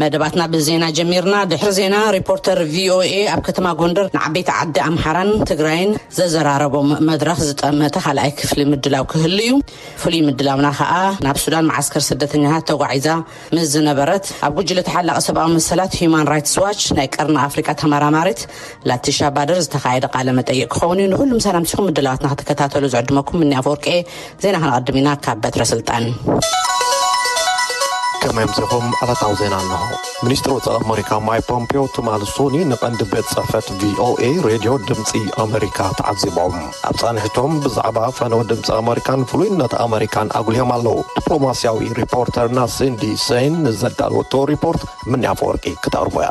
መደባትና ብዜና ጀሚርና ድሕሪ ዜና ሪፖርተር ቪኦኤ ኣብ ከተማ ጎንደር ንዓበይቲ ዓዲ ኣምሓራን ትግራይን ዘዘራረቦም መድረኽ ዝጠመተ ካልኣይ ክፍሊ ምድላው ክህሉ እዩ ፍሉይ ምድላውና ከዓ ናብ ሱዳን መዓስከር ስደተኛታት ተጓዒዛ ምስ ዝነበረት ኣብ ጉጅለ ተሓላቂ ሰብኣዊ መሰላት ሂዩማን ራይትስ ዋች ናይ ቀርኒ ኣፍሪቃ ተመራማሪት ላቲሻ ባደር ዝተኻየደ ቃለ መጠይቕ ክኸውን እዩ። ንኹሉም ሰላምቲኹም ምድላዋትና ክትከታተሉ ዝዕድመኩም ምኒ ኣፈወርቂ ዜና ከነቐድም ኢና ካብ በትረ ስልጣን። ከመይ ኣምሲኹም ዕለታዊ ዜና እንሆ። ሚኒስትሪ ወፃኢ ኣመሪካ ማይ ፖምፒዮ ትማሊ ሶኒ ንቐንዲ ቤት ፅሕፈት ቪኦኤ ሬድዮ ድምፂ ኣመሪካ ተዓዚቦም ኣብ ፃንሒቶም ብዛዕባ ፈነወ ድምፂ ኣመሪካን ፍሉይነት ኣመሪካን ኣጉልዮም ኣለዉ። ዲፕሎማስያዊ ሪፖርተርና ሲንዲ ሰይን ንዘዳለወቶ ሪፖርት ምንያ ኣፈወርቂ ክተቕርቦ እያ።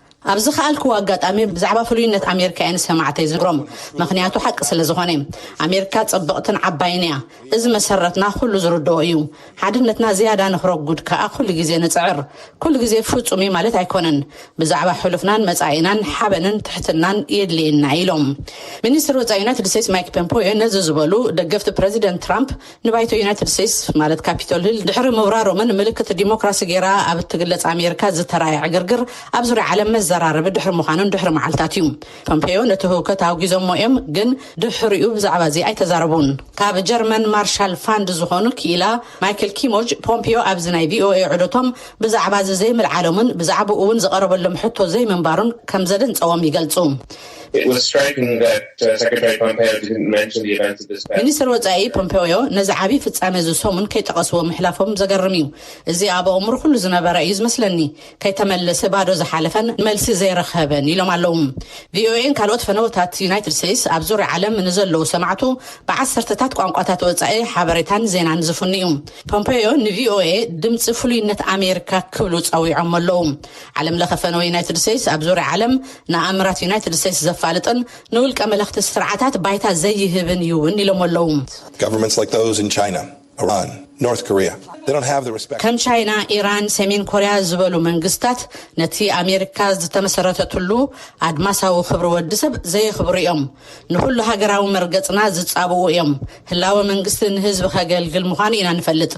ኣብ ዝኸኣልክዎ ኣጋጣሚ ብዛዕባ ፍሉይነት ኣሜሪካ እየ ንሰማዕተይ ዝነግሮም፣ ምኽንያቱ ሓቂ ስለ ዝኾነ። ኣሜሪካ ጽብቕትን ዓባይን እያ። እዚ መሰረትና ኩሉ ዝርድኦ እዩ። ሓድነትና ዝያዳ ንክረጉድ ከኣ ኩሉ ግዜ ንጽዕር። ኩሉ ግዜ ፍጹም እዩ ማለት ኣይኮነን። ብዛዕባ ሕሉፍናን መጻኢናን ሓበንን ትሕትናን የድልየና ኢሎም። ሚኒስትሪ ወጻኢ ዩናይትድ ስቴትስ ማይክ ፖምፖዮ ነዚ ዝበሉ፣ ደገፍቲ ፕረዚደንት ትራምፕ፣ ንባይቶ ዩናይትድ ስቴትስ ማለት ካፒቶል ሂል ድሕሪ ምብራሮምን ምልክት ዲሞክራሲ ገይራ ኣብ እትግለጽ ኣሜሪካ ዝተራእየ ዕግርግር ኣብ ዙርያ ዓለም መዘራረቢ ድሕሪ ምዃኑን ድሕሪ መዓልታት እዩ። ፖምፔዮ ነቲ ህውከት ኣውጊዞሞ እዮም ግን ድሕሪኡ ብዛዕባ እዚ ኣይተዛረቡን። ካብ ጀርመን ማርሻል ፋንድ ዝኾኑ ክኢላ ማይክል ኪሞጅ ፖምፔዮ ኣብዚ ናይ ቪኦኤ ዑደቶም ብዛዕባ እዚ ዘይምልዓሎምን ብዛዕባኡ እውን ዝቐረበሎም ሕቶ ዘይምንባሩን ከም ዘደንጸዎም ይገልጹ። ሚኒስተር ወጻኢ ፖምፐዮ ነዚ ዓቢ ፍጻመ እዚ ሰሙን ከይጠቐስዎ ምሕላፎም ዘገርም እዩ። እዚ ኣብ ኣእምሮ ኩሉ ዝነበረ እዩ ዝመስለኒ። ከይተመለሰ ባዶ ዝሓለፈን መልሲ ዘይረኸበን ኢሎም ኣለዉ። ቪኦኤን ካልኦት ፈነወታት ዩናይትድ ስቴትስ ኣብ ዙርያ ዓለም ንዘለዉ ሰማዕቱ ብዓሰርተታት ቋንቋታት ወጻኢ ሓበሬታን ዜናን ዝፍኑ እዩ። ፖምፐዮ ንቪኦኤ ድምጺ ፍሉይነት ኣሜሪካ ክብሉ ጸዊዖሞ ኣለዉ። ዓለምለኸ ፈነወ ዩናይትድ ስቴትስ ኣብ ዙርያ ዓለም ንኣምራት ዩናይትድ ስቴትስ ዘፋልጥን ንውልቀ መለኽቲ ስርዓታት ባይታ ዘይህብን እዩ እውን ኢሎሞ ኣለዉ። ከም ቻይና፣ ኢራን፣ ሰሜን ኮርያ ዝበሉ መንግስታት ነቲ ኣሜሪካ ዝተመሰረተትሉ ኣድማሳዊ ክብሪ ወዲ ሰብ ዘየኽብሩ እዮም። ንኹሉ ሃገራዊ መርገጽና ዝጻብኡ እዮም። ህላወ መንግስቲ ንህዝቢ ከገልግል ምዃኑ ኢና ንፈልጥ።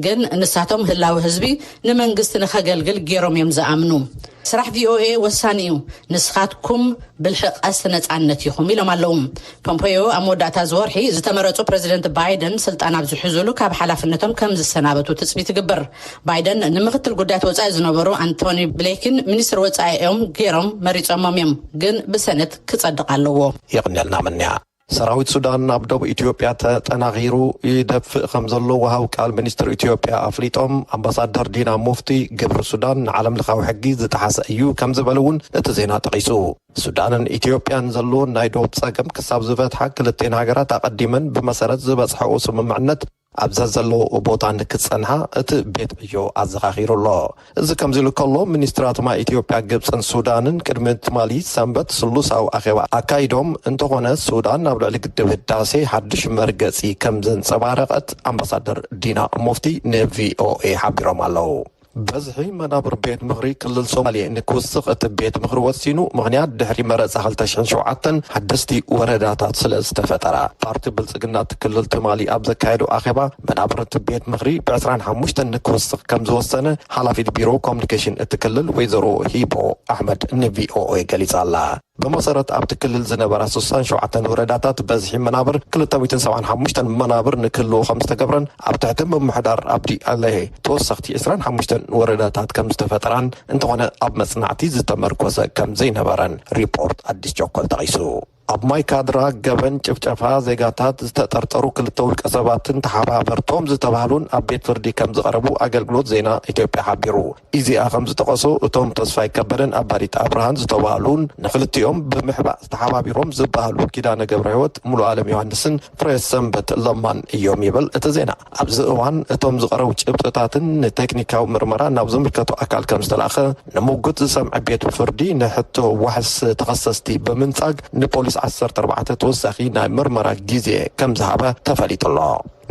ግን ንሳቶም ህላወ ህዝቢ ንመንግስቲ ንከገልግል ጌሮም እዮም ዝኣምኑ። ስራሕ ቪኦኤ ወሳኒ እዩ፣ ንስኻትኩም ብልሒ ቀስት ነጻነት ኢኹም ኢሎም ኣለዉ። ፖምፖዮ ኣብ መወዳእታ እዚ ወርሒ ዝተመረጹ ፕረዚደንት ባይደን ስልጣን ኣብ ዝሕዙሉ ካብ ሓላፍነቶም ከም ዝሰናበቱ ትጽቢት ይግበር። ባይደን ንምክትል ጉዳያት ወፃኢ ዝነበሩ ኣንቶኒ ብሌክን ሚኒስትር ወፃኢ እዮም ገይሮም መሪፆሞም እዮም፣ ግን ብሰነት ክፀድቕ ኣለዎ። የቕንየልና ምንያ። ሰራዊት ሱዳን ኣብ ዶብ ኢትዮጵያ ተጠናኺሩ ይደፍእ ከምዘሎ ወሃብ ቃል ሚኒስትር ኢትዮጵያ ኣፍሊጦም። ኣምባሳደር ዲና ሙፍቲ ግብሪ ሱዳን ንዓለምለኻዊ ሕጊ ዝጠሓሰ እዩ ከምዝበሉ እውን እቲ ዜና ጠቒሱ። ሱዳንን ኢትዮጵያን ዘለወን ናይ ዶብ ፀገም ክሳብ ዝፈትሓ ክልቲኤን ሃገራት ኣቐዲመን ብመሰረት ዝበፅሐኦ ስምምዕነት ኣብ ዘዘለውኦ ቦታ ንክጸንሓ እቲ ቤት ዕዮ ኣዘኻኺሩ ኣሎ። እዚ ከምዚሉ ከሎ ሚኒስትራት ማይ ኢትዮጵያ፣ ግብጽን ሱዳንን ቅድሚ ትማሊ ሰንበት ስሉሳዊ ኣኼባ ኣካይዶም፣ እንተኾነ ሱዳን ኣብ ልዕሊ ግድብ ህዳሴ ሓድሽ መርገጺ ከምዘንጸባረቐት ኣምባሳደር ዲና ሙፍቲ ንቪኦኤ ሓቢሮም ኣለው። በዝሒ መናብር ቤት ምኽሪ ክልል ሶማሌ ንክውስኽ እቲ ቤት ምኽሪ ወሲኑ። ምኽንያት ድሕሪ መረፃ ክልተ ሽሕን ሸውዓተን ሓደስቲ ወረዳታት ስለዝተፈጠራ። ፓርቲ ብልፅግና እቲ ክልል ትማሊ ኣብ ዘካየዶ ኣኼባ መናብር እቲ ቤት ምኽሪ ብ ዕስራን ሓሙሽተን ንክውስኽ ከምዝወሰነ ሓላፊት ቢሮ ኮሙኒኬሽን እቲ ክልል ወይዘሮ ሂቦ ኣሕመድ ንቪኦኤ ገሊፃ'ላ። ብመሰረት ኣብቲ ክልል ዝነበራ ስሳን ሸውዓተን ወረዳታት በዝሒ መናብር ክልተ ሚእትን ሰብዓን ሓሙሽተን መናብር ንክህልዎ ከምዝተገብረን ኣብ ትሕቲ ምምሕዳር ኣብዲ ኣለሄ ተወሰኽቲ ዕስራን ሓሙሽተን ወረዳታት ከምዝተፈጠራን እንተኾነ ኣብ መፅናዕቲ ዝተመርኮሰ ከምዘይነበረን ሪፖርት ኣዲስ ቸኮል ጠቒሱ። ኣብ ማይ ካድራ ገበን ጭፍጨፋ ዜጋታት ዝተጠርጠሩ ክልተ ውልቀ ሰባትን ተሓባበርቶም ዝተባህሉን ኣብ ቤት ፍርዲ ከምዝቐረቡ ኣገልግሎት ዜና ኢትዮጵያ ሓቢሩ። ኢዜኣ ከምዝጠቐሶ፣ እቶም ተስፋይ ከበደን ኣባዲት ኣብርሃን ዝተባህሉን ንክልቲኦም ብምሕባእ ተሓባቢሮም ዝበሃሉ ኪዳነ ገብረሕይወት፣ ሙሉኣለም ዮሃንስን ፍሬሰንበት ለማን እዮም ይብል እቲ ዜና። ኣብዚ እዋን እቶም ዝቐረቡ ጭብጥታትን ንቴክኒካዊ ምርመራ ናብ ዝምልከቶ ኣካል ከምዝተላእከ ንሙጉት ዝሰምዐ ቤት ፍርዲ ንሕቶ ዋሕስ ተኸሰስቲ ብምንጻግ ንፖሊስ ዓሰርተ ኣርባዕተ ተወሳኺ ናይ ምርመራ ግዜ ከምዝሃበ ተፈሊጡ'ሎ።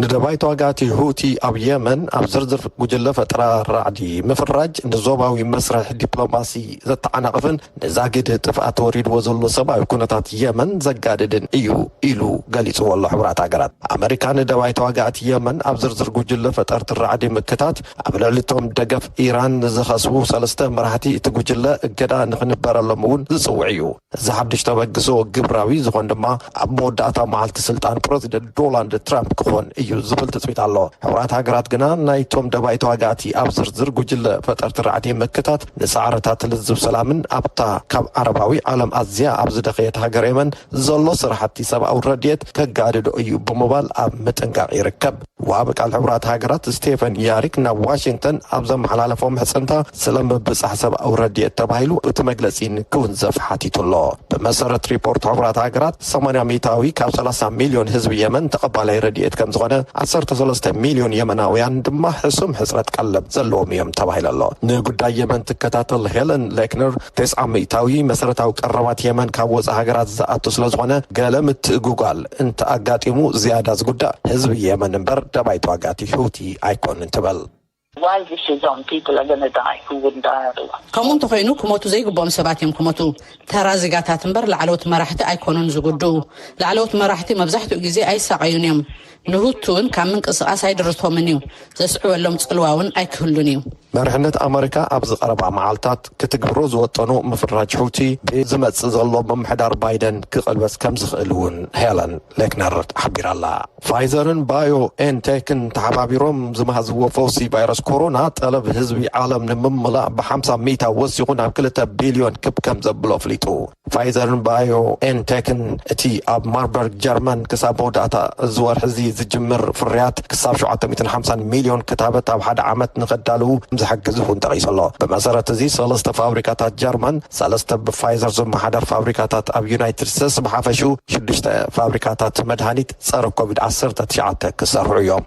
ንደባይ ተዋጋእቲ ሁቲ ኣብ የመን ኣብ ዝርዝር ጉጅለ ፈጠራ ራዕዲ ምፍራጅ ንዞባዊ መስርሕ ዲፕሎማሲ ዘተዓናቕፍን ንዛጊድ ጥፍኣት ወሪድዎ ዘሎ ሰብኣዊ ኩነታት የመን ዘጋድድን እዩ ኢሉ ገሊጽዎ ኣሎ ሕቡራት ሃገራት። ኣመሪካ ንደባይ ተዋጋእቲ የመን ኣብ ዝርዝር ጉጅለ ፈጠርቲ ራዕዲ ምክታት ኣብ ልዕሊ'ቶም ደገፍ ኢራን ዝኸስቡ ሰለስተ መራሕቲ እቲ ጉጅለ እገዳ ንኽንበረሎም እውን ዝጽውዕ እዩ። እዚ ሓድሽ ተበግሶ ግብራዊ ዝኾን ድማ ኣብ መወዳእታ መዓልቲ ስልጣን ፕረዚደንት ዶላንድ ትራምፕ ክኾን እዩ ዝብል ትፅቢት ኣሎ። ሕቡራት ሃገራት ግና ናይቶም ደባይ ተዋጋእቲ ኣብ ዝርዝር ጉጅለ ፈጠርቲ ራዕዲ ምክታት ንፃዕርታት ልዝብ ሰላምን ኣብታ ካብ ዓረባዊ ዓለም ኣዝያ ኣብ ዝደኸየት ሃገር የመን ዘሎ ስራሕቲ ሰብኣዊ ረድኤት ከጋድዶ እዩ ብምባል ኣብ ምጥንቃቕ ይርከብ። ወሃቢ ቃል ሕቡራት ሃገራት ስቴፈን ያሪክ ናብ ዋሽንግተን ኣብ ዘመሓላለፎ ምሕጽንታ ስለ ምብጻሕ ሰብኣዊ ረድኤት ተባሂሉ እቲ መግለጺ ንክውንዘፍ ሓቲቱ ኣሎ። ብመሰረት ሪፖርት ሕቡራት ሃገራት ሰማንያ ሚእታዊ ካብ ሰላሳ ሚልዮን ህዝቢ የመን ተቐባላይ ረድኤት ከምዝኾነ ዓሰርተ ሰለስተ ሚልዮን የመናውያን ድማ ሕሱም ሕጽረት ቀለብ ዘለዎም እዮም ተባሂሉ ኣሎ። ንጉዳይ የመን ትከታተል ሄለን ሌክነር ተስዓ ሚእታዊ መሰረታዊ ቀረባት የመን ካብ ወጻኢ ሃገራት ዝኣቱ ስለዝኾነ ገለ ምትእጉጓል እንተ ኣጋጢሙ ዝያዳ ዝጉዳእ ህዝቢ የመን እምበር ደባይ ተዋጋእቲ ሑቲ ኣይኮኑን ትብል። Why this is on people are gonna die who wouldn't die otherwise? ከምኡ እንተኾይኑ ክሞቱ ዘይግብኦም ሰባት እዮም ክሞቱ ተራ ዚጋታት እምበር ላዕለዎት መራሕቲ ኣይኮኑን ዝጉድኡ ላዕለዎት መራሕቲ መብዛሕትኡ ግዜ ኣይሳቐዩን እዮም ንሁቲ እውን ካብ ምንቅስቓስ ኣይድርቶምን እዩ ዘስዕበሎም ጽልዋ እውን ኣይክህሉን እዩ መሪሕነት ኣመሪካ ኣብዚ ቀረባ መዓልታት ክትግብሮ ዝወጠኑ ምፍራጅ ሑቲ ብዝመጽእ ዘሎ ምምሕዳር ባይደን ክቕልበስ ከም ዝኽእል እውን ሄለን ሌክነር ሓቢራ'ላ። ፋይዘርን ባዮ ኤን ቴክን ተሓባቢሮም ዝመሃዝዎ ፈውሲ ቫይረስ ኮሮና ጠለብ ህዝቢ ዓለም ንምምላእ ብሓምሳ ሚእታዊ ወሲኹ ናብ ክልተ ቢልዮን ክብ ከም ዘብሎ ኣፍሊጡ። ፋይዘርን ባዮ ኤን ቴክን እቲ ኣብ ማርበርግ ጀርመን ክሳብ መወዳእታ እዚ ወርሒ እዚ ዝጅምር ፍርያት ክሳብ ሸውዓተ ሚእትን ሓምሳን ሚልዮን ክታበት ኣብ ሓደ ዓመት ንኸዳልዉ ከምዝሕግዝ እውን ጠቒሱ ኣሎ። ብመሰረት እዚ ሰለስተ ፋብሪካታት ጀርመን፣ ሰለስተ ብፋይዘር ዝመሓደር ፋብሪካታት ኣብ ዩናይትድ ስተትስ ብሓፈሽኡ ሽዱሽተ ፋብሪካታት መድሃኒት ጸረ ኮቪድ ዓሰርተ ትሽዓተ ክሰርሑ እዮም።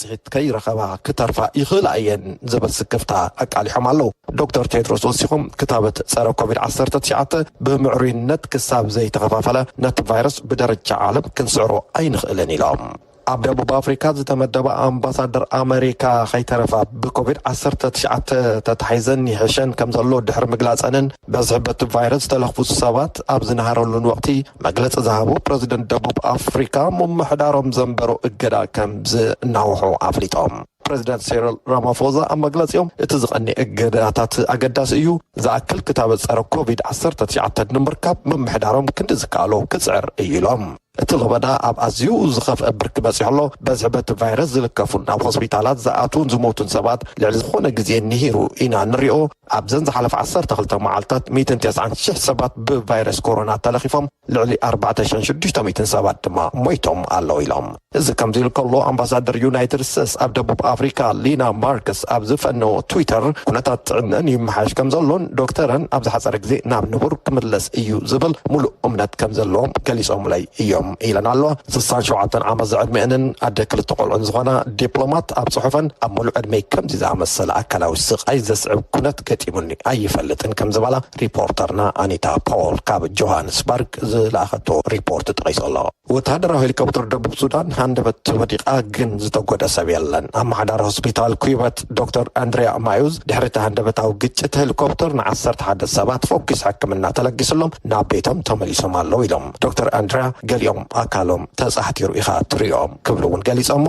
ውፅኢት ከይረኸባ ክተርፋ ይኽእላ እየን ዝብል ስክፍታ ኣቃሊሖም ኣለው። ዶክተር ቴድሮስ ወሲኾም ክታበት ፀረ ኮቪድ ዓሰርተ ትሽዓተ ብምዕሩይነት ክሳብ ዘይተኸፋፈለ ነቲ ቫይረስ ብደረጃ ዓለም ክንስዕሮ ኣይንኽእልን ኢሎም። ኣብ ደቡብ ኣፍሪካ ዝተመደባ ኣምባሳደር ኣመሪካ ከይተረፋ ብኮቪድ ዓሰርተ ትሽዓተ ተታሒዘን ይሕሸን ከምዘሎ ድሕሪ ምግላፀንን በዝሒ በቲ ቫይረስ ዝተለኽፉ ሰባት ኣብ ዝነሃረሉን ወቕቲ መግለፂ ዝሃቡ ፕረዚደንት ደቡብ ኣፍሪካ ምምሕዳሮም ዘንበሮ እገዳ ከምዝ እናውሑ ኣፍሊጦም። ፕረዚደንት ሴሪል ራማፎዛ ኣብ መግለፂኦም እቲ ዝቐንየ እገዳታት ኣገዳሲ እዩ፣ ዝኣክል ክታበት ፀረ ኮቪድ ዓሰርተ ትሽዓተ ንምርካብ ምምሕዳሮም ክንዲ ዝከኣሎ ክፅዕር እዩ ኢሎም። እቲ ለበዳ ኣብ ኣዝዩ ዝኸፍአ ብርኪ በፂሑ ኣሎ፣ በዝሒ በቲ ቫይረስ ዝልከፉን ናብ ሆስፒታላት ዝኣትዉን ዝሞቱን ሰባት ልዕሊ ዝኾነ ግዜ ንሂሩ ኢና ንሪኦ፣ ኣብዘን ዝሓለፋ ዓሰርተ ክልተ መዓልታት ሚእትን ተስዓን ሽሕ ሰባት ብቫይረስ ኮሮና ተለኺፎም ልዕሊ ኣርባዕተ ሽሕን ሽዱሽተ ሚእትን ሰባት ድማ ሞይቶም ኣለው ኢሎም። እዚ ከምዚሉ ከሎ ኣምባሳደር ዩናይትድ ስተስ ኣብ ደቡብ ኣፍሪካ ሊና ማርክስ ኣብ ዝፈነዎ ትዊተር ኩነታት ጥዕነኣን ይመሓየሽ ከምዘሎን ዶክተረን ኣብ ዝሓፀረ ግዜ ናብ ንቡር ክምለስ እዩ ዝብል ሙሉእ እምነት ከምዘለዎም ገሊፆምለይ እዮም። ኢለን ኣሎ። ስሳን ሸውዓተን ዓመት ዝዕድሚኤንን ኣደ ክልተ ቆልዑን ዝኾና ዲፕሎማት ኣብ ጽሑፈን ኣብ ሙሉእ ዕድመይ ከምዚ ዝኣመሰለ ኣካላዊ ስቓይ ዘስዕብ ኩነት ገጢሙኒ ኣይፈልጥን ከም ዝበላ ሪፖርተርና ኣኒታ ፖወል ካብ ጆሃንስበርግ ዝለኣኸቶ ሪፖርት ጠቒሱ ኣሎ። ወተሃደራዊ ሄሊኮፕተር ደቡብ ሱዳን ሃንደበት ወዲቓ ግን ዝተጎድኣ ሰብ የለን። ኣመሓዳሪ ሆስፒታል ኩይበት ዶክተር ኣንድሪያ ማዩዝ ድሕሪ እቲ ሃንደበታዊ ግጭት ሄሊኮፕተር ንዓሰርተ ሓደ ሰባት ፈኲስ ሕክምና ተለጊስሎም ናብ ቤቶም ተመሊሶም ኣለዉ ኢሎም። ዶክተር ኣንድርያ ገሊኦም ኣካሎም ተጻሕቲሩ ኢኻ ትርእዮም ክብሉ እውን ገሊጸሞ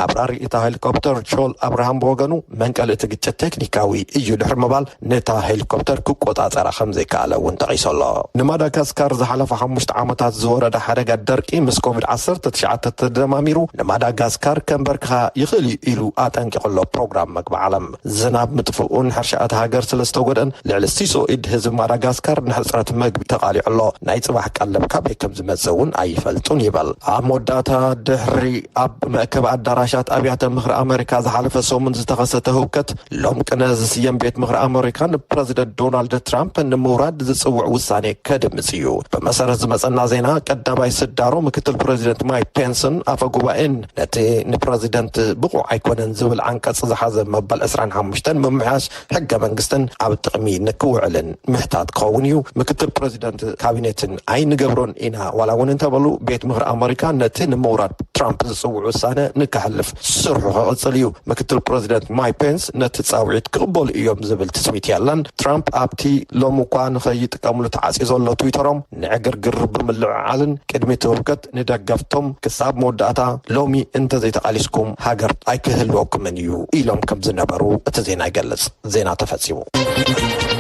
ኣብራሪ እታ ሄሊኮፕተር ቾል ኣብርሃም ብወገኑ መንቀሊ እቲ ግጭት ቴክኒካዊ እዩ ድሕሪ ምባል ነታ ሄሊኮፕተር ክቆጻጸራ ከም ዘይከኣለ እውን ጠቒሱ ኣሎ ንማዳጋስካር ዝሓለፉ ሓሙሽተ ዓመታት ዝወረደ ሓደጋ ደርቂ ምስ ኮቪድ ዓሰርተ ትሽዓተ ተደማሚሩ ንማዳጋስካር ከምበርክኻ ይኽእል እዩ ኢሉ ኣጠንቂቑ ኣሎ ፕሮግራም መግቢ ዓለም። ዝናብ ምጥፍኡን ሕርሻ እታ ሃገር ስለ ዝተጎድእን ልዕሊ ሲሶ ኢድ ህዝቢ ማዳጋስካር ንሕጽረት መግቢ ተቓሊዑ ኣሎ። ናይ ጽባሕ ቀለብ ካበይ ከም ዝመጽእ እውን ኣይፈልጡን ይበል። ኣብ መወዳእታ ድሕሪ ኣብ መእከቢ ኣዳራሻት ኣብያተ ምኽሪ ኣመሪካ ዝሓለፈ ሰሙን ዝተኸሰተ ህውከት፣ ሎም ቅነ ዝስየም ቤት ምኽሪ ኣመሪካ ንፕረዚደንት ዶናልድ ትራምፕ ንምውራድ ዝጽውዕ ውሳኔ ከድምጽ እዩ። ብመሰረት ዝመጸና ዜና ቀዳማይ ስዳሮ ምክትል ፕረዚደንት ማይክ ፔንስን ኣፈ ጉባኤን ነቲ ንፕረዚደንት ብቑዕ ኣይኮነን ዝብል ዓንቀፅ ዝሓዘ መበል ዕስራን ሓሙሽተን ምምሕያሽ ሕገ መንግስትን ኣብ ጥቕሚ ንክውዕልን ምሕታት ክኸውን እዩ። ምክትል ፕረዚደንት ካቢኔትን ኣይንገብሮን ኢና ዋላ እውን እንተበሉ ቤት ምኽሪ ኣመሪካ ነቲ ንምውራድ ትራምፕ ዝፅውዕ ውሳነ ንከሕልፍ ስርሑ ክቕፅል እዩ። ምክትል ፕረዚደንት ማይክ ፔንስ ነቲ ፃውዒት ክቕበሉ እዮም ዝብል ትፅቢት የለን። ትራምፕ ኣብቲ ሎሚ እኳ ንከይጥቀምሉ ተዓፅዩ ዘሎ ትዊተሮም ንዕግርግር ብምልዕዓልን ቅድሚ እቲ ህውከት ንደገፍቶም ክሳብ መወዳእታ ሎሚ እንተዘይተቓሊስኩም ሃገር ኣይክህልወኩምን እዩ ኢሎም ከም ዝነበሩ እቲ ዜና ይገልጽ። ዜና ተፈጺሙ።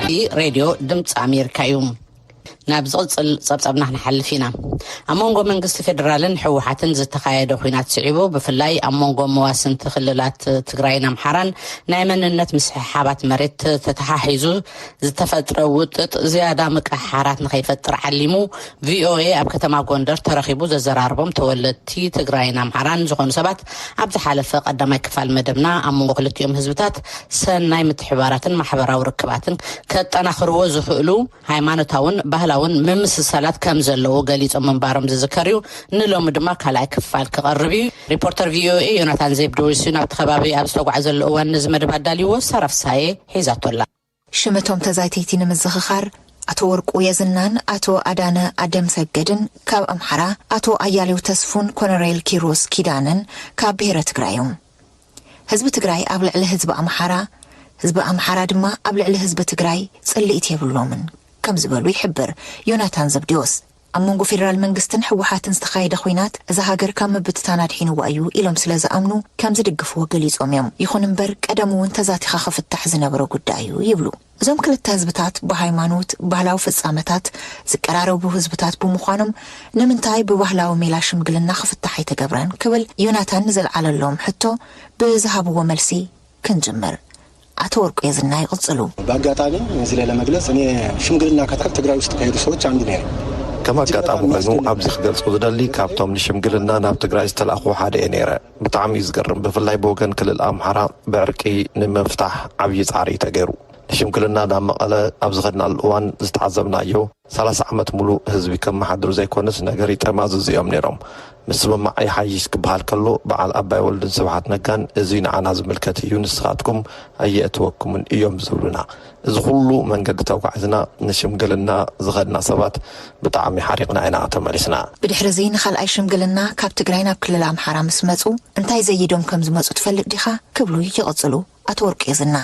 እዚ ሬድዮ ድምጺ ኣሜሪካ እዩ። ናብ ዝቕጽል ጸብጻብና ክንሓልፍ ኢና። ኣብ መንጎ መንግስቲ ፌደራልን ህወሓትን ዝተኻየደ ኹናት ስዒቡ ብፍላይ ኣብ መንጎ መዋስንቲ ክልላት ትግራይን ኣምሓራን ናይ መንነት ምስሕሓባት መሬት ተተሓሒዙ ዝተፈጥረ ውጥጥ ዝያዳ ምቅሕሓራት ንኸይፈጥር ዓሊሙ ቪኦኤ ኣብ ከተማ ጎንደር ተረኺቡ ዘዘራረቦም ተወለድቲ ትግራይን ኣምሓራን ዝኾኑ ሰባት ኣብ ዝሓለፈ ቀዳማይ ክፋል መደብና ኣብ መንጎ ክልቲኦም ህዝብታት ሰናይ ምትሕብባራትን ማሕበራዊ ርክባትን ከጠናኽርዎ ዝኽእሉ ሃይማኖታውን ባህላውን ምምስሳላት ከም ዘለዉ ገሊፆም ምንባሮም ዝዝከር እዩ። ንሎሚ ድማ ካልኣይ ክፋል ክቐርብ እዩ። ሪፖርተር ቪኦኤ ዮናታን ዜብድዎስ እዩ ናብቲ ከባቢ ኣብ ዝተጓዕዘሉ እዋን ነዚ መደብ ኣዳልይዎ። ሳራ ፍስሃየ ሒዛቶ ኣላ። ሽም እቶም ተዛይትይቲ ንምዝኽኻር፣ ኣቶ ወርቁ የዝናን ኣቶ ኣዳነ ኣደምሰገድን ካብ ኣምሓራ፣ ኣቶ ኣያሌው ተስፉን ኮነሬል ኪሮስ ኪዳነን ካብ ብሄረ ትግራይ እዮም። ህዝቢ ትግራይ ኣብ ልዕሊ ህዝቢ ኣምሓራ፣ ህዝቢ ኣምሓራ ድማ ኣብ ልዕሊ ህዝቢ ትግራይ ፅልኢት የብሎምን ከም ዝበሉ ይሕብር ዮናታን ዘብዴዎስ። ኣብ መንጎ ፌደራል መንግስትን ህወሓትን ዝተኻየደ ኹናት እዛ ሃገር ካብ ምብትታን ኣድሒንዋ እዩ ኢሎም ስለዝኣምኑ ከምዝድግፍዎ ገሊፆም እዮም። ይኹን እምበር ቀደሙ እውን ተዛቲኻ ክፍታሕ ዝነበሮ ጉዳይ እዩ ይብሉ። እዞም ክልተ ህዝብታት ብሃይማኖት፣ ባህላዊ ፍፃመታት ዝቀራረቡ ህዝብታት ብምዃኖም ንምንታይ ብባህላዊ ሜላ ሽምግልና ክፍታሕ ኣይተገብረን ክብል ዮናታን ንዘልዓለሎም ሕቶ ብዝሃብዎ መልሲ ክንጅምር። ኣቶ ወርቁ የዝና ይቕጽሉ። ብኣጋጣሚ እዚለ ለመግለጽ እኔ ሽምግልና ከትከል ትግራይ ውስጥ ከሄዱ ሰዎች አንዱ ነይረ። ከም ኣጋጣሚ ኮይኑ ኣብዚ ክገልጾ ዝደሊ ካብቶም ንሽምግልና ናብ ትግራይ ዝተላእኩ ሓደ እየ ነይረ። ብጣዕሚ እዩ ዝገርም ብፍላይ ብወገን ክልል ኣምሓራ ብዕርቂ ንምፍታሕ ዓብዪ ጻዕሪ ተገይሩ። ንሽምግልና ናብ መቐለ ኣብ ዝኸድናሉ እዋን ዝተዓዘብናዮ፣ ሰላሳ ዓመት ሙሉእ ህዝቢ ከመሓድሩ ዘይኮነስ ነገር ይጠማዝዙ እዮም ነይሮም። ምስምማዕ ይሓይሽ ክበሃል ከሎ በዓል ኣባይ ወልዱን ስብሓት ነጋን እዙይ ንዓና ዝምልከት እዩ ንስኻትኩም ኣየእትወኩምን እዮም ዝብሉና። እዚ ኹሉ መንገዲ ተጓዒዝና ንሽምግልና ዝኸድና ሰባት ብጣዕሚ ሓሪቕና ኢና ተመሊስና። ብድሕሪ እዙይ ንኻልኣይ ሽምግልና ካብ ትግራይ ናብ ክልል ኣምሓራ ምስ መፁ እንታይ ዘይዶም ከም ዝመፁ ትፈልጥ ዲኻ? ክብሉ ይቕፅሉ ኣቶ ወርቁ የዝና።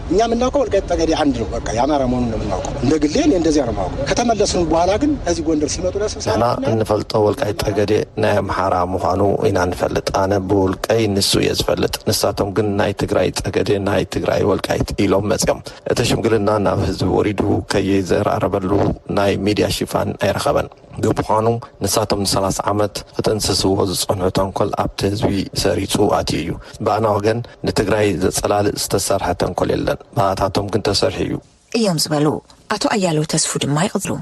እኛ የምናውቀው ወልቃይት ጠገዴ አንድ ነው። በቃ የአማራ መሆኑን ነው የምናውቀው። እንደ ግሌ እኔ እንደዚያ ነው የማውቀው። ከተመለስን በኋላ ግን ከዚህ ጎንደር ሲመጡ ለስብሰባ ንሕና እንፈልጦ ወልቃይት ጠገዴ ናይ ኣምሓራ ምዃኑ ኢና ንፈልጥ። ኣነ ብውልቀይ ንሱ እየ ዝፈልጥ። ንሳቶም ግን ናይ ትግራይ ጠገዴ፣ ናይ ትግራይ ወልቃይት ኢሎም መፅዮም። እቲ ሽምግልና ናብ ህዝቢ ወሪዱ ከይዘራረበሉ ናይ ሚድያ ሽፋን ኣይረኸበን። ብምዃኑ ንሳቶም ንሰላሳ ዓመት ክጥንስስዎ ዝጸንሑ ተንኮል ኣብቲ ህዝቢ ሰሪጹ ኣትዩ እዩ። ብኣና ወገን ንትግራይ ዘጸላልእ ዝተሰርሐ ተንኮል የለን። ብኣታቶም ግን ተሰሪሑ እዩ። እዮም ዝበሉ ኣቶ ኣያለው ተስፉ ድማ ይቕጽሉ።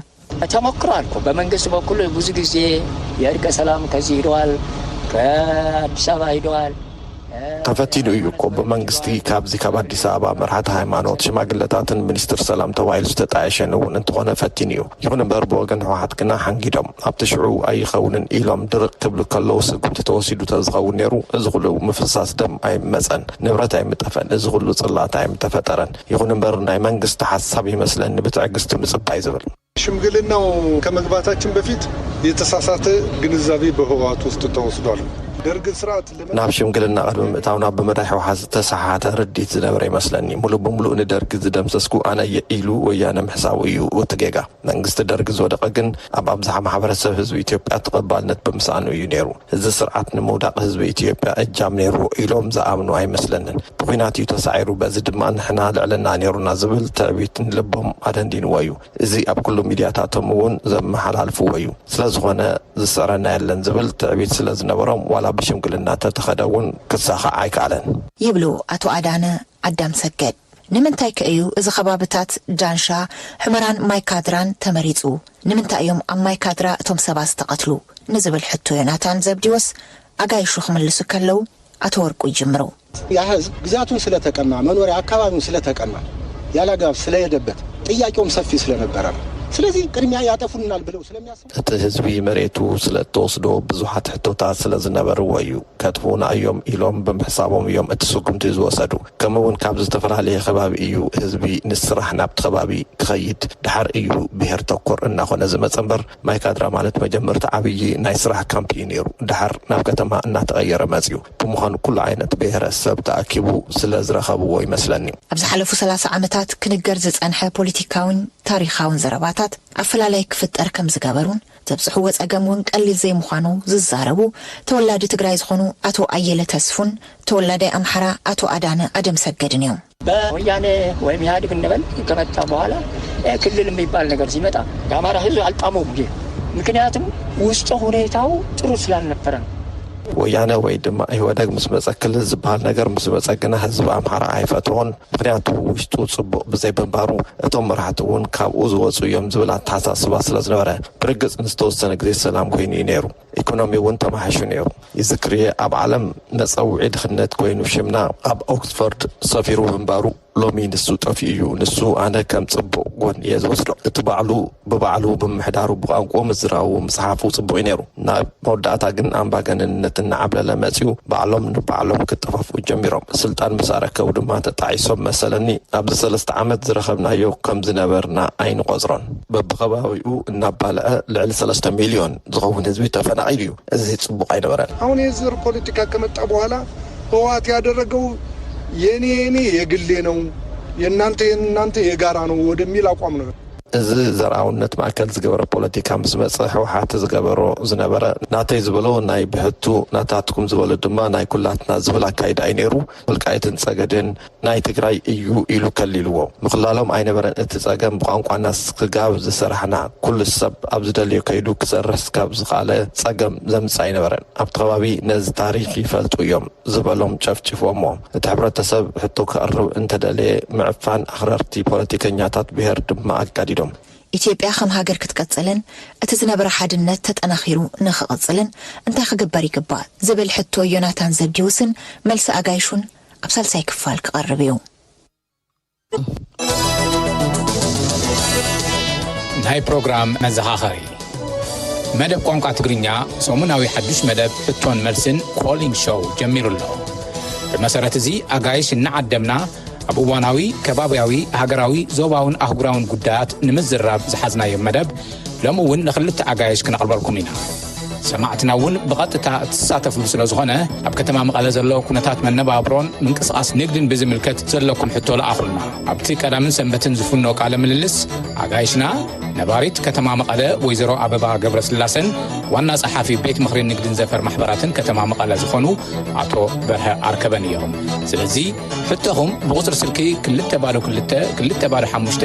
ተሞክሮ ኣልኮ በመንግስት በኩል ብዙ ጊዜ የእርቀ ሰላም ከዚ ሂደዋል ከኣዲስ ኣበባ ሂደዋል። ተፈቲኑ እዩ እኮ ብመንግስቲ ካብዚ ካብ ኣዲስ ኣበባ መራሕቲ ሃይማኖት ሽማግለታትን ሚኒስትር ሰላም ተባሂሉ ዝተጣየሸን እውን እንተኾነ ፈቲኑ እዩ ይኹን እምበር ብወገን ህወሓት ግና ሓንጊዶም ኣብቲ ሽዑ ኣይኸውንን ኢሎም ድርቅ ክብሉ ከለው ስጉምቲ ተወሲዱ ተዝኸውን ነይሩ እዚ ኹሉ ምፍሳስ ደም ኣይምመፀን ንብረት ኣይምጠፈን እዚ ኹሉ ፅልኣት ኣይምተፈጠረን ይኹን እምበር ናይ መንግስቲ ሓሳብ ይመስለኒ ብትዕግስቲ ምፅባይ ዝብል ሽምግልናው ከመግባታችን በፊት የተሳሳተ ግንዛቤ በህወሓት ውስጥ ተወስዷል። ደርግን ስርዓት ለመ ናብ ሽምግልና ቅድሚ ምእታውና ብመዳይ ህወሓት ዝተሰሓሓተ ርድኢት ዝነበረ ይመስለኒ። ሙሉእ ብሙሉእ ንደርጊ ዝደምሰስኩ ኣነ እየ ኢሉ ወያነ ምሕሳቡ እዩ እቲ ጌጋ። መንግስቲ ደርጊ ዝወደቐ ግን ኣብ ኣብዝሓ ማሕበረሰብ ህዝቢ ኢትዮጵያ ተቐባልነት ብምስኣኑ እዩ ነይሩ። እዚ ስርዓት ንምውዳቕ ህዝቢ ኢትዮጵያ እጃም ነይርዎ ኢሎም ዝኣምኑ ኣይመስለንን። ብኹናት እዩ ተሳዒሩ በዚ ድማ ንሕና ልዕልና ነይሩና ዝብል ትዕቢት ንልቦም ኣደንዲንዎ እዩ። እዚ ኣብ ኩሉ ሚድያታቶም እውን ዘመሓላልፍዎ እዩ። ስለዝኾነ ዝስዕረና የለን ዝብል ትዕቢት ስለዝነበሮም ዋላ ብሽምግልና ተተኸደ እውን ክሳኻዕ ኣይከኣለን። ይብሉ ኣቶ ኣዳነ ዓዳምሰገድ። ንምንታይከ እዩ እዚ ከባብታት ዳንሻ፣ ሑመራን ማይ ካድራን ተመሪጹ? ንምንታይ እዮም ኣብ ማይ ካድራ እቶም ሰባት ዝተቐትሉ? ንዝብል ሕቶ ዮናታን ዘብዲዎስ ኣጋይሹ ክምልሱ ከለው ኣቶ ወርቁ ይጅምሩ። ያ ህዝብ ግዛቱን ስለተቀማ መኖሪያ ኣካባቢውን ስለተቀማ ያላግባብ ስለሄደበት ጥያቄውም ሰፊ ስለነበረ ነው ስለዚህ ቅድሚያ ያጠፉልናል ብለው ስለሚያስቡ እቲ ህዝቢ መሬቱ ስለ እተወስዶ ብዙሓት ሕቶታት ስለ ዝነበርዎ እዩ። ከጥፍኡና እዮም ኢሎም ብምሕሳቦም እዮም እቲ ስጉምቲ ዝወሰዱ። ከምኡ እውን ካብ ዝተፈላለየ ከባቢ እዩ ህዝቢ ንስራሕ ናብቲ ከባቢ ክኸይድ ደሓር እዩ ብሄር ተኮር እናኾነ ዝመፀ እምበር ማይካድራ ማለት መጀመርታ ዓብዪ ናይ ስራሕ ካምፕ እዩ ነይሩ ደሓር ናብ ከተማ እናተቐየረ መፅዩ ብምዃኑ ኩሉ ዓይነት ብሄረ ሰብ ተኣኪቡ ስለ ዝረኸብዎ ይመስለኒ ኣብ ዝሓለፉ ሰላሳ ዓመታት ክንገር ዝፀንሐ ፖሊቲካዊን ታሪኻውን ዘረባታት ኣፈላላይ ክፍጠር ከም ዝገበሩን ዘብፅሕዎ ፀገም እውን ቀሊል ዘይምዃኑ ዝዛረቡ ተወላዲ ትግራይ ዝኾኑ ኣቶ ኣየለ ተስፉን ተወላዳይ ኣምሓራ ኣቶ ኣዳነ ኣደምሰገድን እዮም። በወያኔ ወይም ኢህኣዴግ እንበል ከመጣ በኋላ ክልል የሚባል ነገር ሲመጣ የአማራ ህዝብ አልጣመውም ይህ ምክንያቱም ውስጠ ሁኔታው ጥሩ ስላልነበረ ነው። ወያነ ወይ ድማ ኢህወደግ ምስ መፀ ክልል ዝበሃል ነገር ምስ መፀ ግና ህዝቢ ኣምሓራ ኣይፈትዎን። ምኽንያቱ ውሽጡ ጽቡቕ ብዘይ ምንባሩ እቶም መራሕቲ እውን ካብኡ ዝወጹ እዮም ዝብል ኣተሓሳስባ ስለ ዝነበረ። ብርግጽ ንዝተወሰነ ግዜ ሰላም ኮይኑ እዩ ነይሩ። ኢኮኖሚ እውን ተማሕይሹ ነይሩ። ይዝክር እየ ኣብ ዓለም መጸውዒ ድኽነት ኮይኑ ሽምና። ኣብ ኦክስፎርድ ሰፊሩ ምንባሩ ሎሚ ንሱ ጠፊኡ እዩ። ንሱ ኣነ ከም ጽቡቕ ጎኒ እየ ዝወስዶ። እቲ ባዕሉ ብባዕሉ ብምሕዳሩ ብቋንቁኡ ምዝራቡ ምጽሓፉ ጽቡቅ እዩ ነይሩ ናብ መወዳእታ ግን ኣምባገነንነት እናዓብለለ መጺኡ ባዕሎም ንባዕሎም ክጠፋፍኡ ጀሚሮም ስልጣን ምስ ኣረከቡ ድማ ተጣዒሶም መሰለኒ ኣብዚ ሰለስተ ዓመት ዝረከብናዮ ከም ዝነበርና ኣይንቆጽሮን በብከባቢኡ እናባልዐ ልዕሊ ሰለስተ ሚልዮን ዝከውን ህዝቢ ተፈናቂሉ እዩ እዚ ጽቡቅ ኣይነበረን። ኣሁን የዘር ፖለቲካ ከመጣ በኋላ ህወሓት ያደረገው የኔ የኔ የግሌ ነው የናንተ የናንተ የጋራ ነው ወደሚል ኣቋም ነው። እዚ ዘርኣውነት ማእከል ዝገበረ ፖለቲካ ምስ መጸ ህውሓት ዝገበሮ ዝነበረ ናተይ ዝበሎ ናይ ብሕቱ ናታትኩም ዝበሎ ድማ ናይ ኩላትና ዝብል ኣካይዳ እዩ ነይሩ። ወልቃይትን ጸገዴን ናይ ትግራይ እዩ ኢሉ ከሊልዎ። ምኽላሎም ኣይነበረን እቲ ጸገም ብቋንቋና ስጋብ ዝሰራሕና ኩሉ ሰብ ኣብ ዝደልዮ ከይዱ ክሰርሕ ስጋብ ዝኸኣለ ጸገም ዘምጽእ ኣይነበረን። ኣብቲ ከባቢ ነዚ ታሪኽ ይፈልጡ እዮም ዝበሎም ጨፍጪፍዎሞ። እቲ ሕብረተሰብ ሕቶ ከቕርብ እንተደለየ ምዕፋን ኣኽረርቲ ፖለቲከኛታት ብሄር ድማ ኣጋዲዶም። ኢትዮጵያ ከም ሃገር ክትቅፅልን እቲ ዝነበረ ሓድነት ተጠናኺሩ ንክቕፅልን እንታይ ክግበር ይግባእ ዝብል ሕቶ ዮናታን ዘብዲዎስን መልሲ ኣጋይሹን ኣብ ሳልሳይ ክፋል ክቐርብ እዩ። ናይ ፕሮግራም መዘኻኸሪ መደብ ቋንቋ ትግርኛ ሰሙናዊ ሓዱሽ መደብ ሕቶን መልስን ኮሊንግ ሾው ጀሚሩ ኣሎ ብመሰረት እዚ ኣጋይሽ እናዓደምና ኣብ እዋናዊ ከባብያዊ ሃገራዊ ዞባውን ኣህጉራውን ጉዳያት ንምዝራብ ዝሓዝናዮ መደብ ሎሚ እውን ንክልተ ኣጋይሽ ክነቕርበልኩም ኢና። ሰማዕትና እውን ብቐጥታ እትሳተፍሉ ስለ ዝኾነ ኣብ ከተማ መቐለ ዘሎ ኩነታት መነባብሮን ምንቅስቓስ ንግድን ብዝምልከት ዘለኩም ሕቶ ለኣኹልና። ኣብቲ ቀዳምን ሰንበትን ዝፍኖ ቃለ ምልልስ ኣጋይሽና ነባሪት ከተማ መቐለ ወይዘሮ ኣበባ ገብረስላሰን ዋና ጸሓፊ ቤት ምኽሪ ንግድን ዘፈር ማሕበራትን ከተማ መቐለ ዝኾኑ ኣቶ በርሀ ኣርከበን እዮም። ስለዚ ሕቶኹም ብቑፅሪ ስልኪ ክልተ ባዶ ክልተ ክልተ ባዶ ሓሙሽተ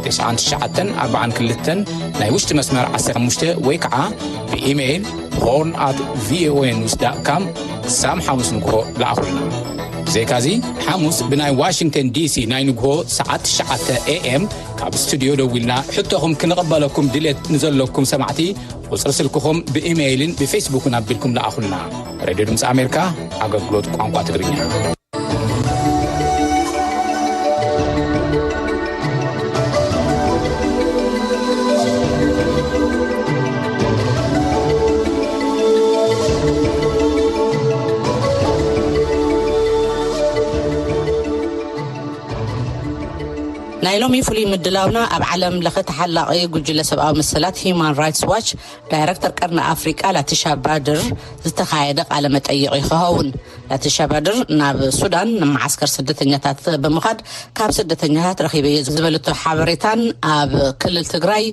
ትስዓን ትሽዓተን ኣርባዓን ክልተን ናይ ውሽጢ መስመር ዓሰርተ ሓሙሽተ ወይ ከዓ ብኢሜይል ሆርን ኣት ቪኦኤ ኒውስ ዳት ካም ሳም ሓሙስ ንግሆ ለኣኹልና ብዘይካዚ ሓሙስ ብናይ ዋሽንግተን ዲሲ ናይ ንግሆ ሰዓት ትሽዓተ ኤኤም ካብ ስቱድዮ ደዊልና ሕቶኹም ክንቐበለኩም ድሌት ንዘለኩም ሰማዕቲ ቁፅሪ ስልክኹም ብኢሜይልን ብፌስቡክን ኣቢልኩም ለኣኹልና ሬድዮ ድምፂ ኣሜሪካ ኣገልግሎት ቋንቋ ትግርኛ ናይ ሎሚ ፍሉይ ምድላውና ኣብ ዓለም ለኸ ተሓላቒ ጉጅለ ሰብኣዊ መሰላት ሂዩማን ራይትስ ዋች ዳይረክተር ቀርኒ ኣፍሪቃ ላቲሻ ባድር ዝተኻየደ ቃለ መጠይቕ እዩ ክኸውን። ላቲሻ ባድር ናብ ሱዳን ንመዓስከር ስደተኛታት ብምኻድ ካብ ስደተኛታት ረኺበዮ ዝበለቶ ሓበሬታን ኣብ ክልል ትግራይ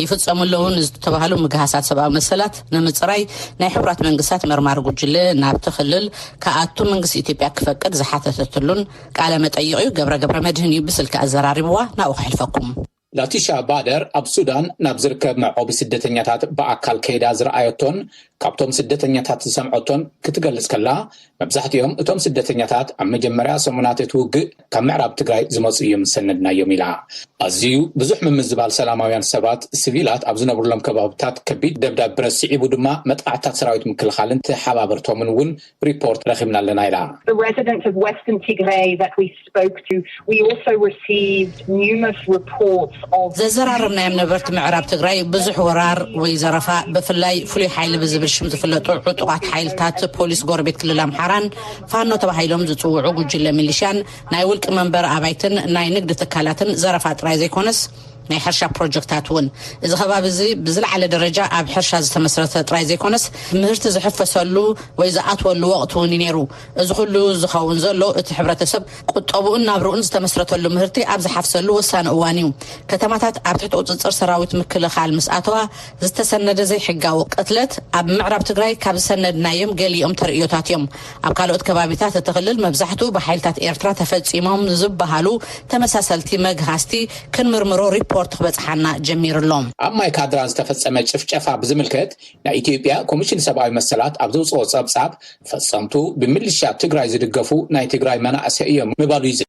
ይፍጸሙ ኣለዉ ንዝተባሃሉ ምግሃሳት ሰብኣዊ መሰላት ንምጽራይ ናይ ሕቡራት መንግስታት መርማሪ ጉጅለ ናብቲ ክልል ክኣቱ መንግስቲ ኢትዮጵያ ክፈቅድ ዝሓተተትሉን ቃለ መጠይቕ እዩ። ገብረ ገብረ መድህን እዩ ብስልኪ ኣዘራሪብዋ ናብኡ ክሕልፈኩም። ላቲሻ ባደር ኣብ ሱዳን ናብ ዝርከብ መዕቆቢ ስደተኛታት ብኣካል ከይዳ ዝረኣየቶን ካብቶም ስደተኛታት ዝሰምዐቶን ክትገልጽ ከላ፣ መብዛሕትኦም እቶም ስደተኛታት ኣብ መጀመርያ ሰሙናት እቲ ውግእ ካብ ምዕራብ ትግራይ ዝመጹ እዮም ዝሰነድናዮም ኢላ። ኣዝዩ ብዙሕ ምምዝባል ሰላማውያን ሰባት፣ ስቪላት፣ ኣብ ዝነብሩሎም ከባብታት ከቢድ ደብዳብ ብረት ስዒቡ ድማ መጥቓዕትታት ሰራዊት ምክልኻልን ተሓባበርቶምን እውን ሪፖርት ረኺብና ኣለና ኢላ። The residents of Western Tigray that we spoke to, we also received numerous reports of. ዘዘራረብናዮም ነበርቲ ምዕራብ ትግራይ ብዙሕ ወራር ወይ ዘረፋ ብፍላይ ፍሉይ ሓይሊ ብዝብል ሽም ዝፍለጡ ዕጡቓት ሓይልታት ፖሊስ ጎረቤት ክልል ኣምሓራን ፋኖ ተባሂሎም ዝፅውዑ ጉጅለ ሚሊሻን ናይ ውልቂ መንበሪ ኣባይትን ናይ ንግዲ ትካላትን ዘረፋ ጥራይ ዘይኮነስ ናይ ሕርሻ ፕሮጀክታት እውን እዚ ከባቢ እዚ ብዝለዓለ ደረጃ ኣብ ሕርሻ ዝተመስረተ ጥራይ ዘይኮነስ ምህርቲ ዝሕፈሰሉ ወይ ዝኣትወሉ ወቕቲ እውን እዩ ነይሩ። እዚ ኩሉ ዝኸውን ዘሎ እቲ ሕብረተሰብ ቁጠብኡን ናብርኡን ዝተመስረተሉ ምህርቲ ኣብ ዝሓፍሰሉ ወሳኒ እዋን እዩ። ከተማታት ኣብ ትሕቲ ቁፅፅር ሰራዊት ምክልኻል ምስ ኣተዋ ዝተሰነደ ዘይሕጋዊ ቅትለት ኣብ ምዕራብ ትግራይ ካብ ዝሰነድናዮም ገሊኦም ተርእዮታት እዮም። ኣብ ካልኦት ከባቢታት እቲ ክልል መብዛሕትኡ ብሓይልታት ኤርትራ ተፈጺሞም ዝበሃሉ ተመሳሰልቲ መግሃስቲ ክንምርምሮ ሪፖርት ክበጽሓና ጀሚሩ ኣሎ። ኣብ ማይ ካድራ ዝተፈጸመ ጭፍጨፋ ብዝምልከት ናይ ኢትዮጵያ ኮሚሽን ሰብኣዊ መሰላት ኣብ ዘውጽኦ ጸብጻብ ፈጸምቱ ብምልሻ ትግራይ ዝድገፉ ናይ ትግራይ መናእሰይ እዮም ምባሉ ይዝከር።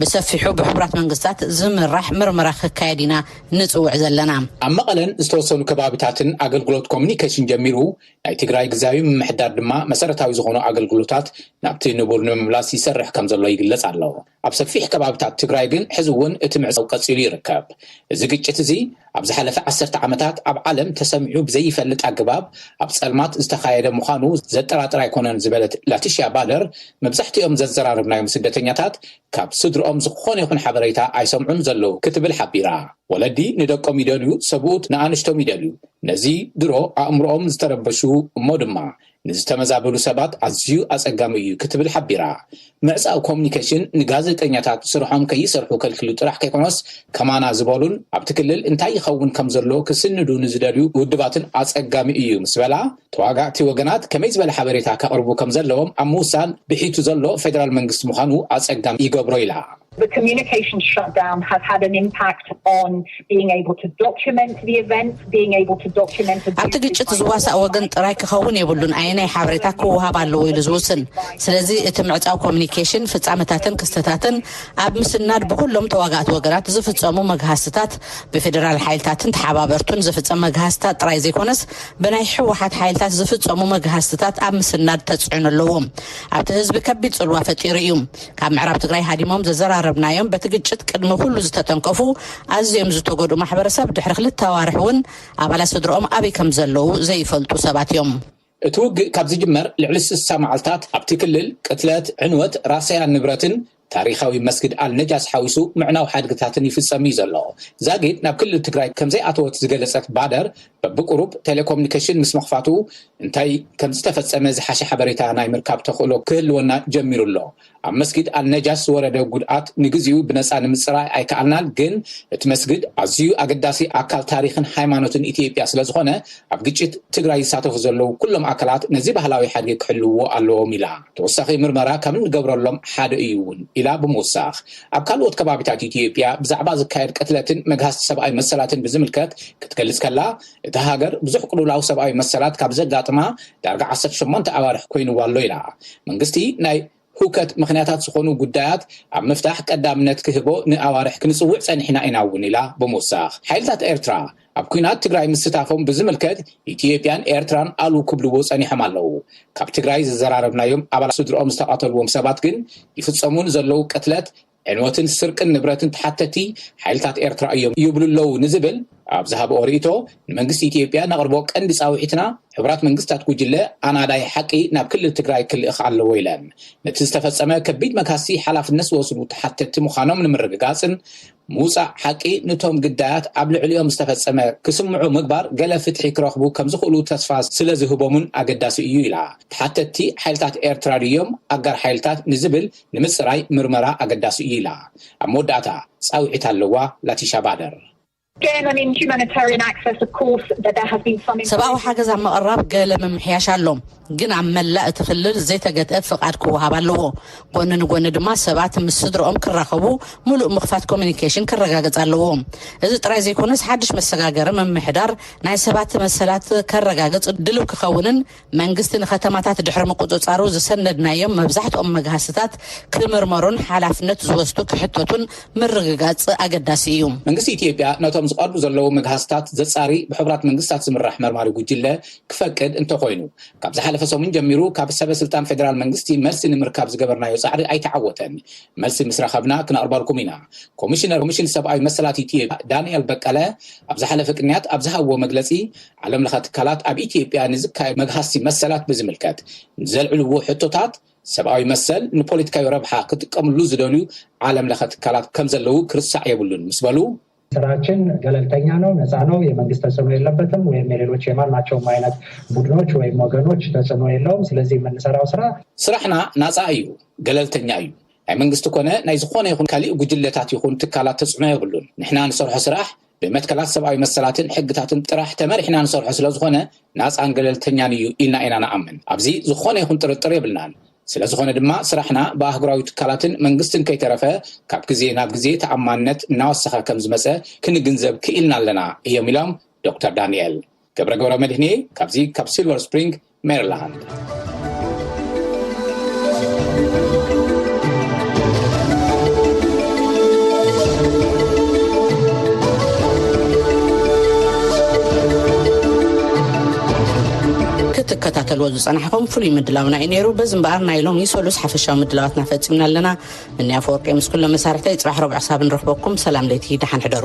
ብሰፊሑ ብሕቡራት መንግስታት ዝምራሕ ምርመራ ክካየድ ኢና ንጽውዕ ዘለና። ኣብ መቐለን ዝተወሰኑ ከባቢታትን ኣገልግሎት ኮሙኒኬሽን ጀሚሩ፣ ናይ ትግራይ ግዝያዊ ምምሕዳር ድማ መሰረታዊ ዝኾኑ ኣገልግሎታት ናብቲ ንቡር ንምምላስ ይሰርሕ ከምዘሎ ይግለጽ ኣሎ። ኣብ ሰፊሕ ከባቢታት ትግራይ ግን ሕዚ እውን እቲ ምዕጻው ቀጺሉ ይርከብ። እዚ ግጭት እዚ ኣብ ዝሓለፈ ዓሰርተ ዓመታት ኣብ ዓለም ተሰሚዑ ብዘይፈልጥ ኣገባብ ኣብ ፀልማት ዝተኻየደ ምዃኑ ዘጠራጥር ኣይኮነን ዝበለት ላቲሽያ ባደር፣ መብዛሕቲኦም ዘዘራረብናዮም ስደተኛታት ካብ ስድርኦም ዝኾነ ይኹን ሓበሬታ ኣይሰምዑን ዘለዉ ክትብል ሓቢራ። ወለዲ ንደቆም ይደልዩ፣ ሰብኡት ንኣንሽቶም ይደልዩ፣ ነዚ ድሮ ኣእምሮኦም ዝተረበሹ እሞ ድማ ንዝተመዛበሉ ሰባት ኣዝዩ ኣጸጋሚ እዩ ክትብል ሓቢራ። ምዕጻው ኮሙኒኬሽን ንጋዜጠኛታት ስርሖም ከይሰርሑ ከልኪሉ ጥራሕ ከይኮነስ ከማና ዝበሉን ኣብቲ ክልል እንታይ ይኸውን ከምዘሎ ክስንዱ ንዝደልዩ ውድባትን ኣጸጋሚ እዩ ምስ በላ ተዋጋእቲ ወገናት ከመይ ዝበለ ሓበሬታ ከቕርቡ ከምዘለዎም ኣብ ምውሳን ብሒቱ ዘሎ ፌደራል መንግስቲ ምዃኑ ኣጸጋሚ ይገብሮ ኢላ። The communications shutdown has had an impact on being able to document the event, being able to document abuses by ኣብቲ ግጭት ዝዋሳእ ወገን ጥራይ ክኸውን የብሉን ኣየናይ ሓበሬታ ክወሃብ ኣለዎ ኢሉ ዝውስን። ስለዚ እቲ ምዕጻው ኮምኒኬሽን ፍጻመታትን ክስተታትን ኣብ ምስናድ ብኹሎም ተዋጋእቲ ወገናት ዝፍጸሙ መግሃስትታት ብፌደራል ሓይልታትን ተሓባበርቱን ዝፍጸም መግሃስትታት ጥራይ ዘይኮነስ ብናይ ህወሓት ሓይልታት ዝፍጸሙ መግሃስትታት ኣብ ምስናድ ተጽዕኖ ኣለዎ። ኣብቲ ህዝቢ ከቢድ ጽልዋ ፈጢሩ እዩ። ካብ ምዕራብ ትግራይ ሃዲሞም ዘዘራረብናዮም በቲ ግጭት ቅድሚ ኩሉ ዝተተንከፉ ኣዝዮም ዝተጎድኡ ማሕበረሰብ ድሕሪ ክልተ ኣዋርሕ እውን ኣባላት ስድርኦም ኣበይ ከምዘለዉ ዘይፈልጡ ሰባት እዮም። እቲ ውግእ ካብ ዝጅመር ልዕሊ ስሳ መዓልታት ኣብቲ ክልል ቅትለት፣ ዕንወት፣ ራሰያ ንብረትን ታሪኻዊ መስጊድ ኣልነጃስ ሓዊሱ ምዕናው ሓድግታትን ይፍፀም እዩ ዘሎ። ዛጊድ ናብ ክልል ትግራይ ከምዘይኣተወት ዝገለፀት ባደር በብቁሩብ ቴሌኮምኒኬሽን ምስ ምኽፋቱ እንታይ ከምዝተፈጸመ ዝሓሸ ሓበሬታ ናይ ምርካብ ተኽእሎ ክህልወና ጀሚሩ ኣሎ። ኣብ መስጊድ ኣልነጃሽ ዝወረደ ጉድኣት ንግዚኡ ብነጻ ንምጽራይ ኣይከኣልናን፣ ግን እቲ መስግድ ኣዝዩ ኣገዳሲ ኣካል ታሪኽን ሃይማኖትን ኢትዮጵያ ስለዝኾነ ኣብ ግጭት ትግራይ ዝሳተፉ ዘለዉ ኩሎም ኣካላት ነዚ ባህላዊ ሓድጊ ክሕልውዎ ኣለዎም ኢላ። ተወሳኺ ምርመራ ካብ እንገብረሎም ሓደ እዩ እውን ኢላ ብምውሳኽ ኣብ ካልኦት ከባቢታት ኢትዮጵያ ብዛዕባ ዝካየድ ቅትለትን መግሃስቲ ሰብኣዊ መሰላትን ብዝምልከት ክትገልጽ ከላ፣ እታ ሃገር ብዙሕ ቅልውላው ሰብኣዊ መሰላት ካብ ዘጋጥማ ዳርጋ ዓሰርተ ሸሞንተ ኣዋርሕ ኮይንዋ ኣሎ ኢላ። መንግስቲ ናይ ህውከት ምኽንያታት ዝኾኑ ጉዳያት ኣብ ምፍታሕ ቀዳምነት ክህቦ ንኣዋርሕ ክንጽውዕ ጸኒሕና ኢና'ውን ኢላ ብምውሳኽ። ሓይልታት ኤርትራ፣ ኣብ ኩናት ትግራይ ምስታፎም ብዝምልከት ኢትዮጵያን ኤርትራን ኣሉ ክብልዎ ጸኒሖም ኣለዉ። ካብ ትግራይ ዝዘራረብናዮም ኣባላት ስድርኦም ዝተቐተልዎም ሰባት ግን ይፍጸሙ ንዘለዉ ቅትለት፣ ዕንወትን ስርቅን ንብረትን ተሓተቲ ሓይልታት ኤርትራ እዮም ይብሉ ኣለዉ ንዝብል ኣብ ዝሃብኦ ርእይቶ ንመንግስቲ ኢትዮጵያ ነቕርቦ ቀንዲ ጻውዒትና ሕቡራት መንግስታት ጉጅለ ኣናዳይ ሓቂ ናብ ክልል ትግራይ ክልእኽ ኣለዎ ኢለን ነቲ ዝተፈጸመ ከቢድ መግሃስቲ ሓላፍነት ዝወስዱ ተሓተቲ ምዃኖም ንምርግጋጽን ምውጻእ ሓቂ ኑቶም ግዳያት ኣብ ልዕሊኦም ዝተፈጸመ ክስምዑ ምግባር ገለ ፍትሒ ክረኽቡ ከም ዝኽእሉ ተስፋ ስለ ዝህቦም'ውን ኣገዳሲ እዩ ኢላ። ተሓተትቲ ሓይልታት ኤርትራ ድዮም ኣጋር ሓይልታት ንዝብል ንምጽራይ ምርመራ ኣገዳሲ እዩ ኢላ። ኣብ መወዳእታ ጻውዒት ኣለዋ ላቲሻ ባደር። ሰብኣዊ ሓገዝ ኣብ ምቕራብ ገለ ምምሕያሽ ኣሎ። ግን ኣብ መላእ እቲ ክልል ዘይተገትአ ፍቓድ ክወሃብ ኣለዎ። ጎኒ ንጎኒ ድማ ሰባት ምስ ስድርኦም ክራኸቡ ምሉእ ምኽፋት ኮሚኒኬሽን ክረጋገጽ ኣለዎ። እዚ ጥራይ ዘይኮነስ ሓድሽ መሰጋገሪ ምምሕዳር ናይ ሰባት መሰላት ከረጋግጽ ድልው ክኸውንን መንግስቲ ንከተማታት ድሕሪ ምቁጽጻሩ ዝሰነድናዮም መብዛሕትኦም መግሃስታት ክምርመሩን ሓላፍነት ዝወስዱ ክሕተቱን ምርግጋጽ ኣገዳሲ እዩ። መንግስቲ ኢትዮጵያ ነቶም ዝቐርቡ ዘለዉ መግሃስታት ዘጻሪ ብሕቡራት መንግስታት ዝምራሕ መርማሪ ጉጅለ ክፈቅድ እንተኾይኑ፣ ካብ ዝሓለፈ ሰሙን ጀሚሩ ካብ ሰበ ስልጣን ፌደራል መንግስቲ መልሲ ንምርካብ ዝገበርናዮ ጻዕሪ ኣይተዓወተን። መልሲ ምስ ረኸብና ክነቕርበልኩም ኢና። ኮሚሽነር ኮሚሽን ሰብኣዊ መሰላት ኢትዮጵያ ዳንኤል በቀለ ኣብ ዝሓለፈ ቅንያት ኣብ ዝሃብዎ መግለጺ፣ ዓለም ለኸ ትካላት ኣብ ኢትዮጵያ ንዝካየዱ መግሃስቲ መሰላት ብዝምልከት ንዘልዕልዎ ሕቶታት፣ ሰብኣዊ መሰል ንፖለቲካዊ ረብሓ ክጥቀምሉ ዝደልዩ ዓለም ለኸ ትካላት ከምዘለዉ ክርሳዕ የብሉን ምስ በሉ፣ ስራችን ገለልተኛ ነው፣ ነፃ ነው፣ የመንግስት ተጽዕኖ የለበትም ወይም የሌሎች የማናቸውም አይነት ቡድኖች ወይም ወገኖች ተጽዕኖ የለውም። ስለዚህ የምንሰራው ስራ። ስራሕና ናፃ እዩ፣ ገለልተኛ እዩ፣ ናይ መንግስቲ ኮነ ናይ ዝኾነ ይኹን ካሊእ ጉጅለታት ይኹን ትካላት ተጽዕኖ የብሉን። ንሕና ንሰርሖ ስራሕ ብመትከላት ሰብኣዊ መሰላትን ሕግታትን ጥራሕ ተመሪሕና ንሰርሖ ስለዝኾነ ናፃን ገለልተኛን እዩ ኢልና ኢና ንኣምን። ኣብዚ ዝኾነ ይኹን ጥርጥር የብልናን። ስለዝኾነ ድማ ስራሕና ብኣህጉራዊ ትካላትን መንግስትን ከይተረፈ ካብ ግዜ ናብ ግዜ ተኣማንነት እናወሰኸ ከምዝመፀ ክንግንዘብ ክኢልና ኣለና እዮም ኢሎም ዶክተር ዳኒኤል። ገብረ ገብረመድህን እየ ካብዚ ካብ ሲልቨር ስፕሪንግ ሜሪላንድ። ዝጸናሕኩም ፍሉይ ምድላውና እዩ ነይሩ። በዚ እምበኣር ናይ ሎሚ ሰሉስ ሓፈሻዊ ምድላዋትና ፈጺምና ኣለና። እኒ ኣፈወርቂ ምስ ኩሎም መሳርሕተይ ጽባሕ ረቡዕ ክሳብ እንረኽበኩም ሰላም ለይቲ ደሓን ሕደሩ።